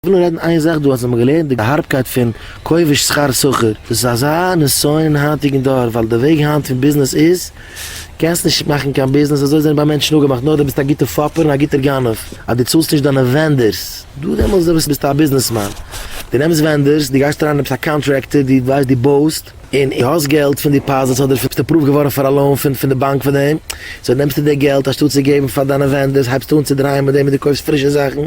איך וויל נאר רעדן איין זאך דא אז מ'האט געלערנט די הארבקייט פון כובש שכר סוחר, דאס איז אזא נסיון אין היינטיגן דור ווייל די וועג היינט פון ביזנעס איז קענסט נישט מאכן קיין ביזנעס אזוי זענען ביי מענטשן אפגעמאכט נאר די ביסט א גוטע פאפער און א גוטער גנב אז די צאלסט נישט דיינע ווענדערס דא דעמאלטס דאס ביסטו א ביזנעסמאן די נעמסט ווענדערס די גייסט אריין די ביסט א קאנטרעקטער די ווייסט די בויסט און די האסט געלט פון דיפאזיטס אדער ביסט אפראווד געווארן פאר א לאון פון פון די באנק פאר דעם סאו נעמסטו די געלט אנשטאט צו געבן פאר דיינע ווענדערס הייבסטו אן צו דרייען מיט דעם און די קויפסט פרישע זאכן.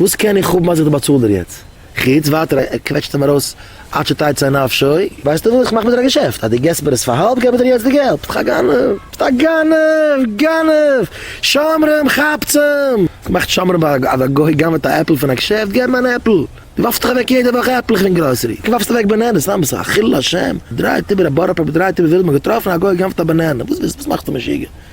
וואס קען איך האבן אז איך באצאל דיר יעצט? חוץ ווייטער ער קוועטשט אים ארויס עד שתצא נפשו. ווייסטו וואס? איך מאך מיט דיר א געשעפט, אז דו געסט מיר עס פאר האלב געב איך דיר יעצט די געלט. ביסט א גנב! ביסט א גנב! גנב! שומרים! כאפטס אים! וואס מאכט שומרים ביי א גוי? אז א גוי גנב'ט א עפל פון א געשעפט געב אים אן עפל! דו ווארפסט דאך אוועק יעדע וואך עפלעך אין גראסערי! דו ווארפסט אוועק באנענעס! סתם ביסט א חילול השם! דרייט איבער א בארא פארק דרייט איבער וויל מיר געטראפן א גוי גנב'ט א באנענע! וואס ביסטו? וואס מאכסטו משוגע?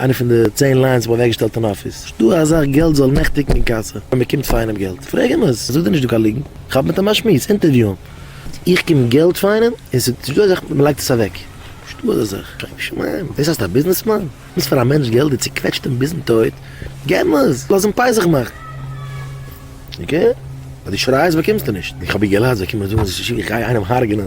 איינע פון די צען ליינס האב איך אוועקגעשטעלט אין אפיס. נישט דא א זאך געלט זאל נעכטיגן אין קאסע ווען מען קומט פאר איינעם געלט. פרעג אים עס, זאג דיר נישט דא קיין ליגנט. כאפ מיט אים א שמועס, אינטערוויו אים. איך קום געלט פאר איינעם און ס'איז נישט דא א זאך מען לייגט עס אוועק. נישט דא אזא זאך. שוין שמים. דאס הייסט א ביזנעסמאן? נוצט פאר א מענטש געלט, דו צוקוועטשט אים ביזן טויט? געב אים עס, לאז אים פייסעך מאכן. אקעי? אז דו שרייסט באקומסטו נישט. איך האב איר געלאזט זיי קומען זאגן אז איך גיי איינעם הרג'נען.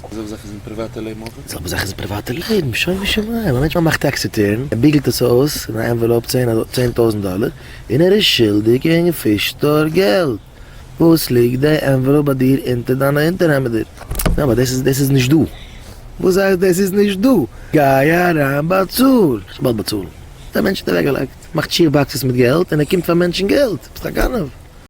די זעלבע זאך איז אין פריוואטע לעבן אויך? די זעלבע זאך איז אין פריוואטע לעבן, שומו שמיים, א מענטש מאכט טעקס ריטורן, ער ביגלט עס אויס אין א ענוועלאופ צען טויזנט דאלער, און ער איז שולדיג אין פיש סטאר געלט, וואס ליגט די ענוועלאופ ביי דיר אונטער דיינע אונטערהעמעדער? יא אבער דאס איז נישט דא. וואס הייסט דאס איז נישט דא? גיי אריין באצאל! איך וועל באצאלן. די מענטש האט אוועקגעלייגט, מאכט שיך באקסעס מיט געלט און ער קומט פאר מענטשן געלט? ביסט א גנב!